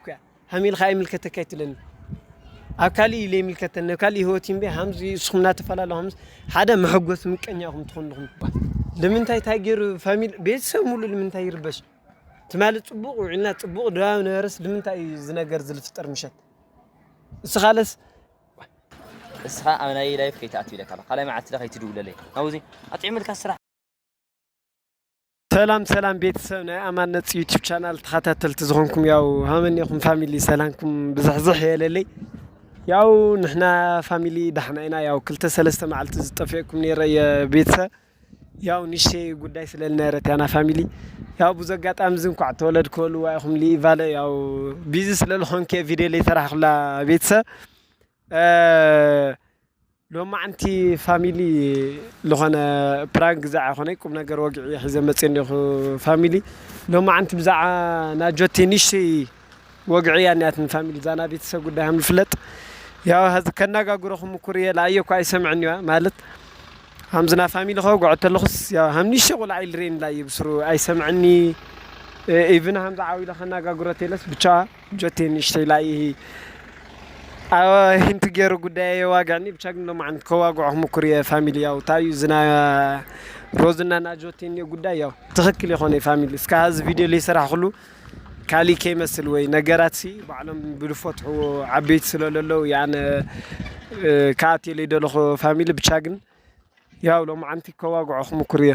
እኳ ሃም ኢልካ ኣይምልከተካ ኣይትብለኒ ኣብ ካሊእ እዩ ዘይምልከተኒ ኣብ ካሊእ ሂወት እዩ እምበይ ሃምዚ ንስኹም እናተፈላለኹም ሃምዚ ሓደ መሐጎሲ ምቀኛ ኢኹም ትኾኑ ኣለኹም ትባሃል ልምንታይ እንታይ ገይሩ ፋሚሊ ቤተሰብ ሙሉ ልምንታይ ይርበሽ ትማሊ ፅቡቅ ውዒልና ፅቡቅ ድባብ ነበረስ ልምንታይ እዩ እዚ ነገር እዚ ዝፍጠር ምሸት እስኻለስ እስኻ ኣብ ናይ ላይፍ ከይትኣቱ ኢለካ ካልኣይ መዓልቲ ከይትድውለለይ ናብዚ ኣጥዒሙልካ ስራሕ ሰላም ሰላም ቤተሰብ ናይ ኣማነት ዩቲብ ቻናል ተኸታተልቲ ዝኾንኩም ያው ሃመኒኹም ፋሚሊ ሰላምኩም ብዝሕዝሕ የለለይ ያው ንሕና ፋሚሊ ዳሕና ኢና ያው ክልተ ሰለስተ መዓልቲ ዝጠፍኤኩም ነረ የቤተሰብ ያው ንሸ ጉዳይ ስለልነረት ያና ፋሚሊ ያው ብዙ ኣጋጣሚ ዝ እንኳዕ ተወለድ ክበሉ ዋይኹም ሊቫለ ያው ቢዚ ስለልኾንከ ቪድዮ ለይሰራሕኩላ ቤተሰብ ሎማዓንቲ ፋሚሊ ልኾነ ፕራንክ ግዘ ኣይኾነይ ቁምነገር ወግዒ እየ ሒዘ መፅየ እኒኹ ፋሚሊ ሎማዓንቲ ብዛዓ ናጆቴ ንሽተይ ወግዒ እያ እኒኣት ንፋሚሊ እዛ ናይ ቤተሰብ ጉዳይ ሃም ልፍለጥ ያው ሀዚ ከናጋግሮ ክምኩር እየ ላኣየ እኳ ኣይሰምዕን እዩዋ ማለት ሃምዚ ናይ ፋሚሊ ከወግዖ ተለኹስ ያው ሃም ንሽተይ ቁልዓ ኢልሬን ላየ ብስሩ ኣይሰምዕኒ ኢቭን ሃምዚ ዓው ኢለ ከናጋግሮ ቴለስ ብቻዋ ጆቴ ንእሽተይ ላይሂ ኣወ ሂንቲ ገሩ ጉዳይ ኣየዋግዕኒ ብቻ ግን ሎማዓንቲ ከዋግዖ ክሙኩር እየ ፋሚሊ ያው ታይ እዩ ዝና ሮዝ እና ናጆቴ እኒኦ ጉዳይ ያው ትክክል የኮነይ ፋሚሊ እስካ ሀዚ ቪድዮ ለይሰራሕኩሉ ካሊእ ከይመስል ወይ ነገራት ሲ ባዕሎም ብልፎትሕዎ ዓበይቲ ስለለለው እየ ኣነ ከኣትየ ለይደለኩ ፋሚሊ ብቻ ግን ያው ሎማዓንቲ ከዋግዖ ክሙኩር እየ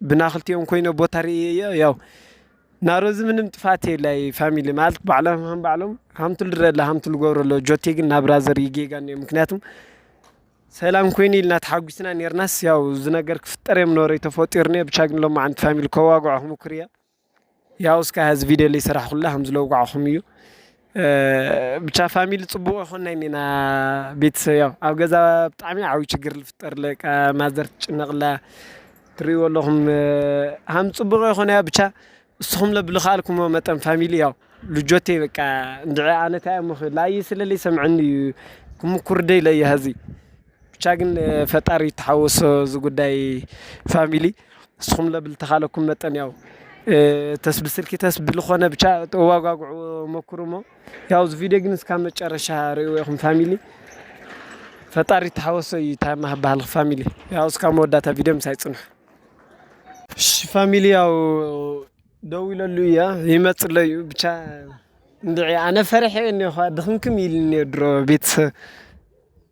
ብናክልቲኦም ኮይነ ቦታ ርእየዮ ያው ናሮዚ ምንም ጥፋት የላይ ፋሚሊ ማለት ባዕሎም ሃም ባዕሎም ሃምቱ ልረለ ሃምቱ ልገብሮ ኣሎ ጆቴ ግን ናብራዘር ይጌጋ እኒኦ ምክንያቱም ሰላም ኮይኑ ኢልና ተሓጒስና ኔርናስ ያው ዝነገር ክፍጠር እዮም ኖሮ ተፈጢሩ እኒኦ ብቻ ግን ሎማዓንቲ ፋሚሊ ከዋግዖ ክሙኩር እየ። ያው እስከ ሀዚ ቪድዮ ላይ ስራሕ ኩላ ከም ዝለውጋዕኹም እዩ ብቻ ፋሚሊ ፅቡቅ ይኾና እኒና ቤተሰብ ያው ኣብ ገዛ ብጣዕሚ ዓብዪ ችግር ዝፍጠር ለቃ ማዘር ትጭነቅላ ትሪእዎ ኣለኹም ሃም ፅቡቅ ይኾና ብቻ እስኹም ለብልኻልኩሞ መጠን ፋሚሊ ያው ልጆቴ በቃ እንድዒ ኣነ ታይ እሞ ላዪ ስለለይ ሰምዐኒ እዩ ክምኩር ደይ ለዪ ሀዚ ብቻ ግን ፈጣሪ ይተሓወሶ እዚ ጉዳይ ፋሚሊ ንስኹም ለብል ተኻለኩም መጠን ያው ተስ ብስልኪ ተስ ብልኾነ ብቻ ተዋጓጉዑ ሞክሩሞ ያው እዚ ቪዲዮ ግን እስካብ መጨረሻ ርእይዎ ኢኹም ፋሚሊ ፈጣሪ ተሓወሶ እዩ ታማ ባህል ፋሚሊ ያው እስካብ መወዳእታ ቪዲዮ ምሳይ ፅንሑ እሺ ፋሚሊ ያው ደው ኢለሉ እያ ይመፅለ እዩ ብቻ እንድዒ ኣነ ፈርሐ እኔ ድኽምክም ኢልኒ ድሮ ቤተሰብ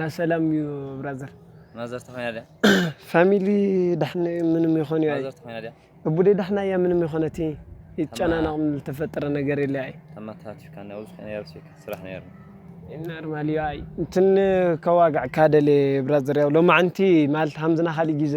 ናሰላም እዩ ብራዘር ፋሚሊ ዳሕና እዩ ምንም ይኮን እዩ ኣይ እቡደይ ዳሕና እያ ምንም ይኮነት እይ ይጨናነቅ ዝተፈጠረ ነገር የለ ኣይ ኖርማል እዩ ኣይ እንትን ከዋግዕ ካደሌ ብራዘር ያው ሎማዓንቲ ማለት ሃምዝና ካሊእ ጊዘ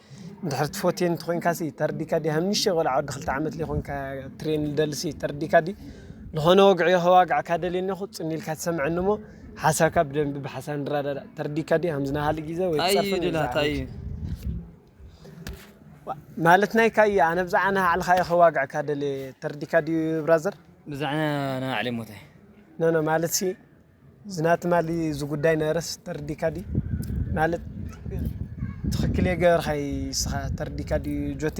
ድሕሪ ትፎትየን ተኮንካ ሲ ተርዲካ ዲ ሃምሽተ ቆልዓ ወዲ ክልተ ዓመት ዘይኮንካ ትሬን ልደሊ ሲ ተርዲካ ዲ ዝኾነ ወግዒ ከዋግዓካ ደልየ እኒኹ ጽን ኢልካ ትሰምዐኒ እሞ ሓሳብካ ብደንቢ ብሓሳብ ንረዳዳእ ተርዲካ ዲ ሃምዚ ናሃሊ ግዜ ወይ ታይ እዩ ትጸርፍን ድላ ታይ እዩ ማለት ናይካ እዩ ኣነ ብዛዕባ ናሃዕልኻ እየ ከዋግዐካ ደልየ ተርዲካ ድዩ ብራዘር ብዛዕና ናሃዕሊ እሞ ታይ ኖኖ ማለት ሲ ዝናቲ ማሊ ዝጉዳይ ነረስ ተርዲካ ዲ ማለት ትክክል የገበርካይ ስኻ ተርዲካ ዲ ጆቴ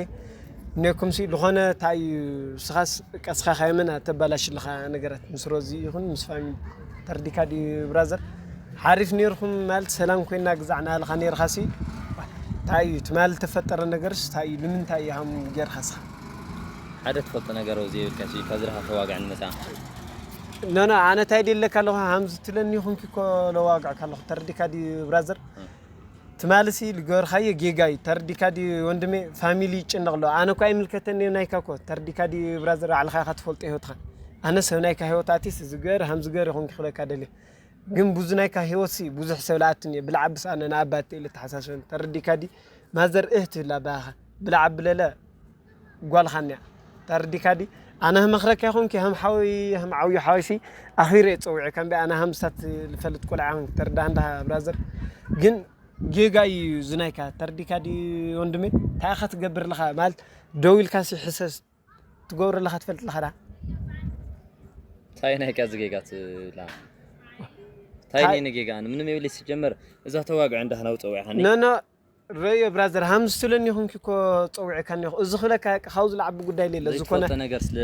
ኔኩም ሲ ዝኾነ ታይ ስኻስ ቀስኻ ካየመን ኣተባላሽ ልኻ ነገረት ምስ ሮዚ ይኹን ምስ ፋሚ ተርዲካ ዲ ብራዘር ሓሪፍ ኔርኩም ማለት ሰላም ኮይና ግዛዕና ልኻ ኔርካ ሲ ታይ ትማል ተፈጠረ ነገርስ ታይ ልምንታይ ሃም ጌርካ ስኻ ሓደ ትፈልጦ ነገር ወዘይ የብልካ ሲ ካብ ዝረከብካ ዋግዕ ንመጻ። ኖኖ ኣነ እንታይ ድየለካ ኣለኹ ሃምዚ ትብለኒ ይኹንኪ እኮ ለዋግዕካ ኣለኹ ተረዲካ ድዩ ብራዘር ትማሊ ሲ ልገበርካዮ ጌጋ እዩ ተረዲካ ድዩ ወንድሜ ፋሚሊ ይጭነቕ ኣሎ ኣነ እኮ ኣይምልከተኒ እዩ ናይካ እኮ ተረዲካ ድዩ ብራዘር ባዕልኻ ኢኻ ትፈልጦ ሂወትካ ኣነ ሰብ ናይካ ሂወት ኣትየስ እዚ ግበር ሃምዚ ግበር ይኹንኪ ክብለካ ደልየ ግን ብዙ ናይካ ሂወት ሲ ብዙሕ ሰብ ልኣቱ እኒኦ ብልዓ ብስ ኣነ ንኣባ እንተ ኢለ ተሓሳስበኒ ተረዲካ ድዩ ማዘር እህ ትብል ኣባኻ ብላዕ ኣብለለ ጓልኻ እኒኣ ተርዲካ ዲ ኣነ ህም መክረኪ ኹንኪ ህም ሓወይ ህም ዓውዩ ሓወይሲ ኣኺረ የጸውዒ ከምቢ ኣነ ሃምሳት ልፈልጥ ቆልዓ ኹንኪ ተርዳህ እንዳ ብራዘር ግን ጌጋ እዩ ዝናይካ ተርዲካ ዲ ወንድሜ እንታይ ኢኻ ትገብር ኣለኻ ማለት ደው ኢልካ ሲ ሕሰስ ትገብሮ ኣለኻ ትፈልጥ ኣለኻ ዳ እንታይ ናይካ እዚ ጌጋ ትብላ እንታይ ኔ ጌጋ ምንም የብለይ ሲጀመር እዛ ተዋግዕ እንዳህና ውጸውዒ ኖ ኖ ረዮ ብራዘር ሃም ዝትለኒ ኹንኪ እኮ ጸዊዕካኒ እኮ እዚ ክብለካ በቃ ካብኡ ዝለዓቢ ጉዳይ ለለ ዝኾነ ዘይትፈልጦ ነገር ስለ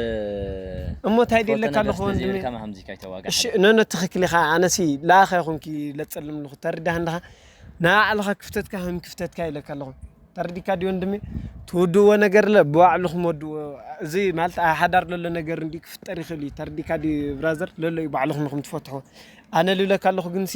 እሞ እንታይ ዘይትፈልጦ ድለካ ነገር ኣለኹ ስለ ወንድመይ ዘይብልካ ሃምዚ ካይተዋጋእ እሺ ሓደራ ኖኖ ትኽክል ኢኻ ኣነሲ ለኣኻ ይኹንኪ ለጸልም ኣለኹ ተርዳህ እንድኻ ንኣዕልኻ ክፍተትካ ሃም ክፍተትካ ኢለካ ኣለኹ ተርዲካ ድዩ ወንድሜ ትውድዎ ነገር ለ ብባዕልኹም ወድዎ እዚ ማለት ኣብ ሓዳር ለሎ ነገር እንዲ ክፍጠር ይኽእል እዩ ተርዲካ ድዩ ብራዘር ለሎ እዩ ባዕልኹም ንኹም ትፈትሕዎ ኣነ ልብለካ ኣለኹ ግንሲ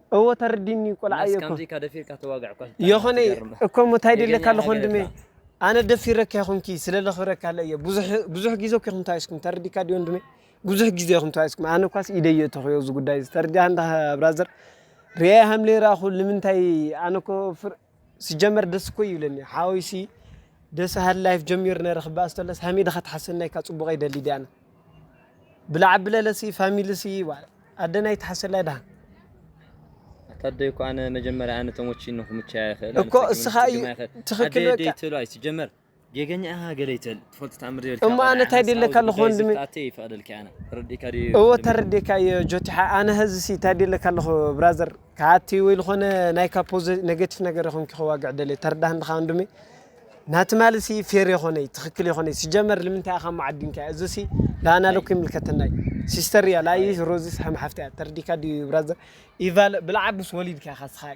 እወ ተርዲኒ ቆልዓ እየ እኮ የኾነ እኮ እሞ እንታይ ደለካ ኣለኹ ወንድሜ ኣነ ደፊረካ ይኹንኪ ስለ ለኽብረካ ኣለ እየ ብዙሕ ግዜ እኮ ይኹም ተዋይስኩም ተረዲካ ዲ ወንድሜ ብዙሕ ግዜ ይኹም ተዋይስኩም ኣነ እኳስ ኢደይ የተኽዮ እዚ ጉዳይ እዚ ተርዲኣ እንዳ ብራዘር ርያ ሃምለ ይረኣኹ ንምንታይ ኣነ እኮ ሲጀመር ደስ እኮ ይብለኒ ሓወይ ሲ ደስ በሃሊ ላይፍ ጀሚሩ ነረ ክበኣስ ተለስ ሃመይ ድካ ትሓሰና ኢካ ጽቡቀይ ደሊ ድየ ኣነ ብላዕ ኣብለለ ሲ ፋሚሊ ሲ ዋእ ኣደናይ ትሓሰላ ድካ ኣታደይ እኮ ኣነ መጀመርያ ኣነ ተሞቺኒ ክምቸያ ይክእል እኮ እስካ እዩ ትክክል በቃ ኣደይ ትብሎ ኣይትጀመር ጌገኛ ኢኻ ገለ ይትል ትፈልጥ ተኣምር ዘይብልካ እሞ ኣነ ታይ ድየ ለካ ኣለኩ ወንድሚ ዝብጣተይ ይፈቅደልኪ ኣነ ተረዲእካ ድዩ እወ ወንድመይ? ተረዲእካ እየ ጆቲሓ ኣነ ሀዝሲ ታይ ድየ ለካ ኣለኩ ብራዘር ከኣቲ ወይ ልኮነ ናይካ ፖዘ ነገቲፍ ነገር ይኮንኪ ከዋግዕ ደልየ ተረዳህኒ ድካ ወንድሚ ናቲ ትማሊ ሲ ፌር የኮነይ ትክክል የኮነይ ሲጀመር ልምንታይ ኢካ እሞ ዓዲምካያ እዚሲ ልኣና ለኩ ይምልከተና እዩ ሲስተር እያ ልኣይስ ሮዚስ ሐም ሓፍቲ እያ ተረዲእካ ድዩ ብራዘር ኢቫለ ብልዓብስ ወሊድካ ኢካ ስካ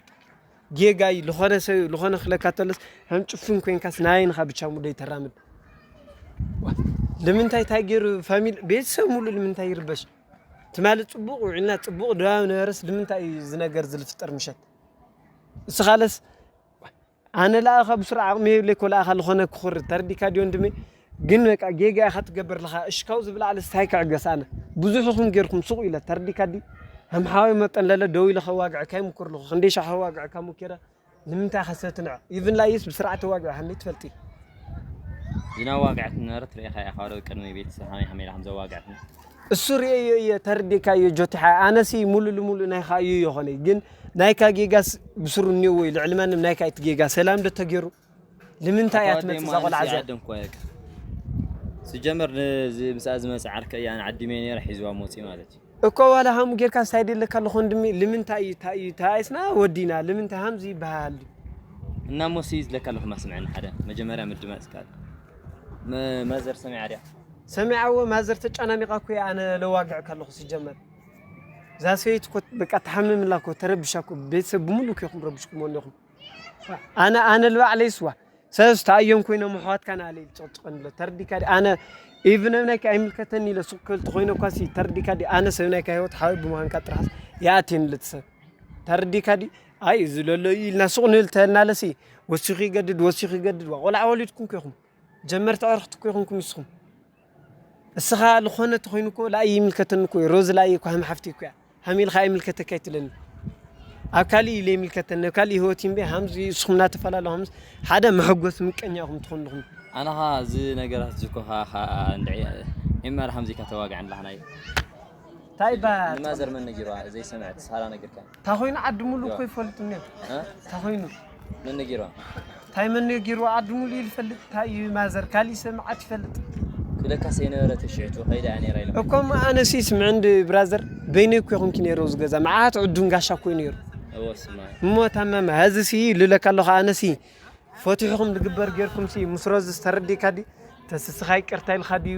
ጌጋ እዩ ልኾነ ሰብ እዩ ልኾነ ክለካ ተሎስ ከም ጭፍን ኮንካስ ናበይን ኢኻ ብቻ ሙሉይ ተራምድ ልምንታይ እንታይ ገይሩ ፋሚሊ ቤተሰብ ሙሉ ልምንታይ ይርበሽ ትማሊ ፅቡቅ ውዒልና ፅቡቅ ድባብ ነበረስ ልምንታይ እዩ እዚ ነገር እዚ ዝፍጠር ምሸት እስኻለስ ኣነ ለኣኻ ብስሩዕ ዓቅሚ የብለይ እኮ ለኣኻ ልኾነ ክኹሪ ተረዲእካ ድዩ ወንድመይ ግን በቃ ጌጋ ኢካ ትገብር ለካ እሽ ካብዚ ብላዕልስ ታይ ክዕገስ ኣነ ብዙሕ ኢኩም ጌርኩም ሱቅ ኢለ ተርዲካ ዲ ከም ሓወይ መጠን ለለ ደው ኢለ ከዋግዐካ ይሙኩር ለኩ ክንደይ ሻሕ ከዋግዐካ ሙኪረ ንምንታይ ኢካ ሰብ ትንዕ ኢቭን ላይስ ብስርዓት ተዋጊዕካኒ ትፈልጢ ዝናዋግዐትኒ ዝነበረት ርኢኻ ኢኻ ዶ ቅድሚ ቤተሰብ ሃመይ ሃመይ ኢላ ከምዘዋግዐትኒ እሱ ርእየዮ እየ ተርዲካ እዮ ጆቲ ሓ ኣነሲ ሙሉ ልሙሉ ናይካ እዩ የኾነይ ግን ናይካ ጌጋስ ብስሩ እኒዎ እዩ ልዕሊ ማንም ናይካ እቲ ጌጋ ሰላም ዶ ተገይሩ ልምንታይ እያ ትመጽእ እዛ ቆልዓ እዚኣ? ስጀመር ምስኣ ዝመጸ ዓርከይ እያ ኣነ ዓዲመ ኔረ ሒዝዋ ሞጺ ማለት እዩ። እኮ ዋላ ሃም ጌርካስ ታይ ደለካ ኣሎ ኮንድሚ ልምንታይ እዩ ታይ እዩ ተባኢስና ወዲና ልምንታይ ሃምዚ ይበሃል ድዩ እና ሞሲ ዝለካ ኣለኩ ማስምዐኒ ሓደ መጀመርያ ምድማፅ ይከኣል ማዘር ሰሚዓ ድያ ሰሚዓ እወ ማዘር ተጨናኒቃ እኮ እያ ኣነ ለዋግዕ ከለኩ ስጀመር እዛ ሰበይቲ እኮ በቃ ተሓምም እላ እኮ ተረብሻ እኮ ቤተሰብ ብምሉእ እኮ ኢኩም ረብሽኩሞ እኒኹም ኣነ ኣነ ልባዕለይ ስዋ ሰለስተ ኣዮም ኮይኖም ኣሕዋትካ ናለይ ዝጨቅጭቀን ኣሎ ተርዲካ ዲ ኣነ ኢቭን ናይካ ኣይምልከተኒ ኢለ ሱቅ ክብል ተኮይነ እኳ ሲ ተርዲካ ዲ ኣነ ሰብ ናይካ ሂወት ሓወይ ብምዃንካ ጥራሕስ ይኣትየኒ ለቲ ሰብ ተርዲካ ዲ ኣይ እዚ ለሎ እዩ ኢልና ሱቅ ንብል ተልናለ ሲ ወሲኩ ይገድድ ወሲኩ ይገድድ ዋእ ቆልዓ ወሊድኩም እኮ ኢኩም ጀመርቲ ኣዕርክቲ እኮ ኢኩም ንስኩም። እስኻ ልኾነ ተኾይኑ እኮ ላኣይ ይምልከተኒ እኮ እዩ ሮዝ ላኣይ እኮ ሃም ሓፍቲ እኮ እያ ሃም ኢልካ ኣይምልከተካ ኣይትለኒ ኣብ ካሊእ እዩ ለይምልከተኒ ኣብ ካሊእ ህይወት እዩ እምበይ ሃምዚ እስኹም እናተፈላለ ሃምስ ሓደ መሐጎስ ምቀኛ ኢኹም ትኾኑ ኣለኹም ኣነኻ እዚ ነገራት ዝኮ ሃሃ እንድዒ ኤመር ሃምዚ ኢልካ ተዋግዕ ንላህናይ ታይ እባ ንማዘር መን ነጊርዋ ዘይሰምዐት ሳራ ነጊርካ ታኾይኑ ዓዲ ሙሉ እኮ ይፈልጡ እኒኦ ታኾይኑ መን ነጊርዋ ታይ መን ነጊርዋ ዓዲ ሙሉ ይፈልጥ ታይ እዩ ማዘር ካሊእ ሰምዓት ይፈልጥ ክብለካ ሰይነበረ ተሽዕቱ ከይዳ እያ ነይራ ኢሎም እኮ ኣነሲ ይስምዕ እንዲ ብራዘር በይነይ እኮ ይኹንኪ ነይረ ኣብዚ ገዛ መዓት ዕዱን ጋሻ እኮ እዩ ነይሩ እሞ ታማማ ሀዚ ሲ ልለካ ኣለኹ ኣነሲ ፈትሑኹም ዝግበር ጌርኩም ሲ ምስ ሮዝስ ተረዲእካ ድዩ ተስስኻ ይቅርታ ኢልካ ድዩ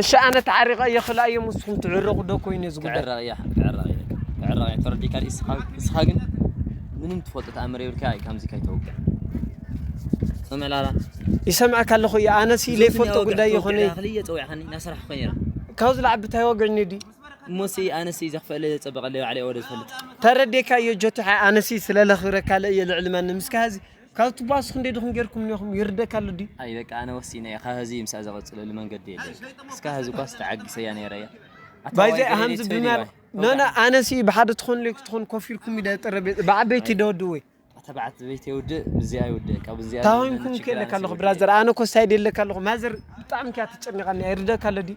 እሺ ኣነ ተዓሪቀ እየ ክላ እዮም ንስኹም ትዕረቁ ዶ ኮይኑ እዩ ዝጉዳይ ክዕረቅ እያ ክዕረቅ እያ ክዕረቅ እያ ተረዲካ እስኻ ግን ምንም ትፈልጦ ተኣምር የብልካ እዩ ከምዚ ከይተውቅዕ ሰምዕላላ ይሰምዐካ ኣለኹ እየ ኣነ ሲ ዘይፈልጦ ጉዳይ ይኾነ ክልየ ፀዊዕካኒ ናስራሕ ኮይ ነራ ካብዚ ላዕቢ እንታይ ወግዕኒ ድዩ እሞሲ ኣነሲ ዘኽፈለ ዘፀበቀለ ባዕለይ ወደ ዝፈልጥ ተረዴካ እዮ ጆቲሓ ኣነሲ ስለለኽብረካ ለእየ ልዕሊ ማንም እስካ ካብቲ ባስ ክንደይ ድኹም ጌርኩምኒ ኢኹም ይርደካ ኣሎ ድዩ። ኣይ በቃ ኣነ ወሲነ እየ ካብ ሀዚ ምሳኣ ዘቅፅለሉ መንገዲ የለን እስከ ሀዚ እኳስ ተዓጊሰያ ነይረ እየ ኣታ ዋይ ገሬ ዴ ትፈዲ ዋይ ኖኖ ኣነ ሲ ብሓደ ትኾኑ ለይክትኾኑ ኮፍ ኢልኩም ኢለ ጠረጴዛ ብዓበይቲ ዶ ወድወይ ተባዕበይቲ የውድእ ምስዚኣ ይውድእ ካብ እዚኣ ታሆንኩም ከለካ ኣለኹ ብራዘር ኣነ ኮስ ኣይደለካ ኣለኹ ማዘር ብጣዕሚ እያ ተጨኒቃኒ ይርደካ ኣሎ ድዩ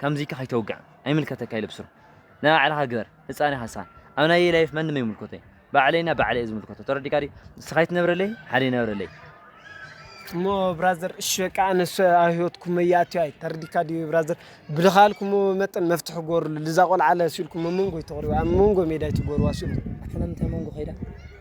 ከምዚከ ከይተውግዕ ኣይምልከተካ እዩ ልብሱር ናይ ባዕልካ ግበር ህጻን ኢካ ንስካ ኣብ ናየይ ላይፍ ማንም ኣይምልከቶይ ባዕለይ እና ባዕለይ እዩ ዝምልከቶ ተረዲካ ድዩ ንስካ ይትነብረለይ ሓደ ይነብረለይ እሞ ብራዘር እሺ በቃ ኣነስ ኣብ ህይወትኩም መያእትዮ ኣይ ተርዲካ ድዩ ብራዘር ብልኻልኩም መጠን መፍትሒ ጎርሉ ልዛ ቆልዓለ ስኢልኩም ኣብ መንጎ ይተቕርቡ ኣብ መንጎ ሜዳ ይትጎርዋ ስኢልኩም ኣሕለምታይ መንጎ ከይዳ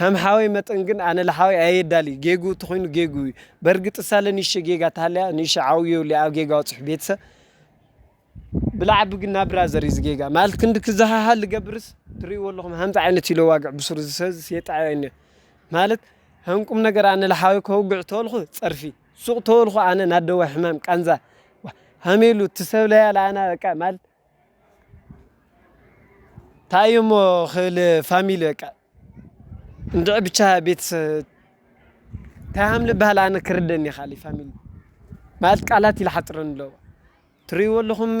ሃም ሓወይ መጠን ግን ኣነ ልሓወይ ኣየዳሊ ጌግኡ ተኾይኑ ጌግኡ እዩ በርግጥ ሳለ ንእሽተይ ጌጋ ተሃልያ ንእሽተይ ዓው የብሉ ኣብ ጌጋ ወጽሑ ቤተሰብ ብላዓቢ ግን ናብ ብራዘር እዩ ጌጋ ማለት ክንዲ ክዝሃሃል ልገብርስ ትርእይዎ ኣለኹም ሃምዚ ዓይነት እዩ ለዋግዕ ብሱሩ ዝሰዝ የጣዕዮ እኒ ማለት ሃም ቁም ነገር ኣነ ልሓወይ ከውግዕ ተወልኹ ጸርፊ ሱቕ ተወልኹ ኣነ ናደዋ ሕማም ቃንዛ ሃሜሉ ትሰብ ለያ ለኣና በቃ ማለት ታየሞ ክል ፋሚሊ በቃ እንድዒ ብቻ ቤተሰብ እንታይ ከም ልበሃል ኣነ ክርደኒ ይካኣለይ ፋሚሊ ማለት ቃላት ይልሓጥረኒ ኣሎ ትርእይዎ ኣለኹም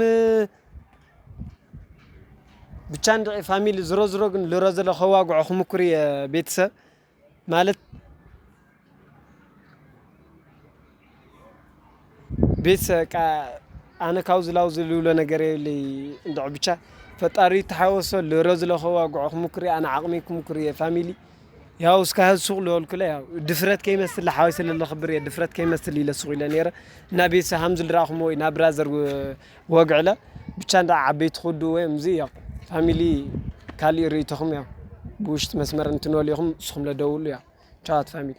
ብቻ እንድዒ ፋሚሊ ዝሮ ዝሮ ግን ልሮ ዝሮ ከዋግዖ ክምኩር እየ ቤተሰብ ማለት ቤት ሰቃ ኣነ ካብ ዝላው ዝልብሎ ነገር የብለይ እንድዕ ብቻ ፈጣሪ ይተሓወሶ ልሮ ዝለከቦ ኣጉዕ ክሙኩር እየ ኣነ ዓቅመይ ክሙኩር እየ ፋሚሊ ያው እስከ ሱቅ ልበልኩለ ያው ድፍረት ከይመስል ልሓወይ ስለ ለክብር እየ ድፍረት ከይመስል ኢለ ሱቅ ኢለ ነይረ እና ቤተሰብ ከም ዝልረኣክምዎ ኢና ብራዘር ወግዒ እለ ብቻ እንዳ ዓበይቲ ኩዱ ወይ እምዚ እያኹ ፋሚሊ ካሊእ ርኢቶኹም እያ ብውሽጢ መስመር እንትንወል ኢኹም ንስኹም ለደውሉ እያ ቻዋት ፋሚሊ።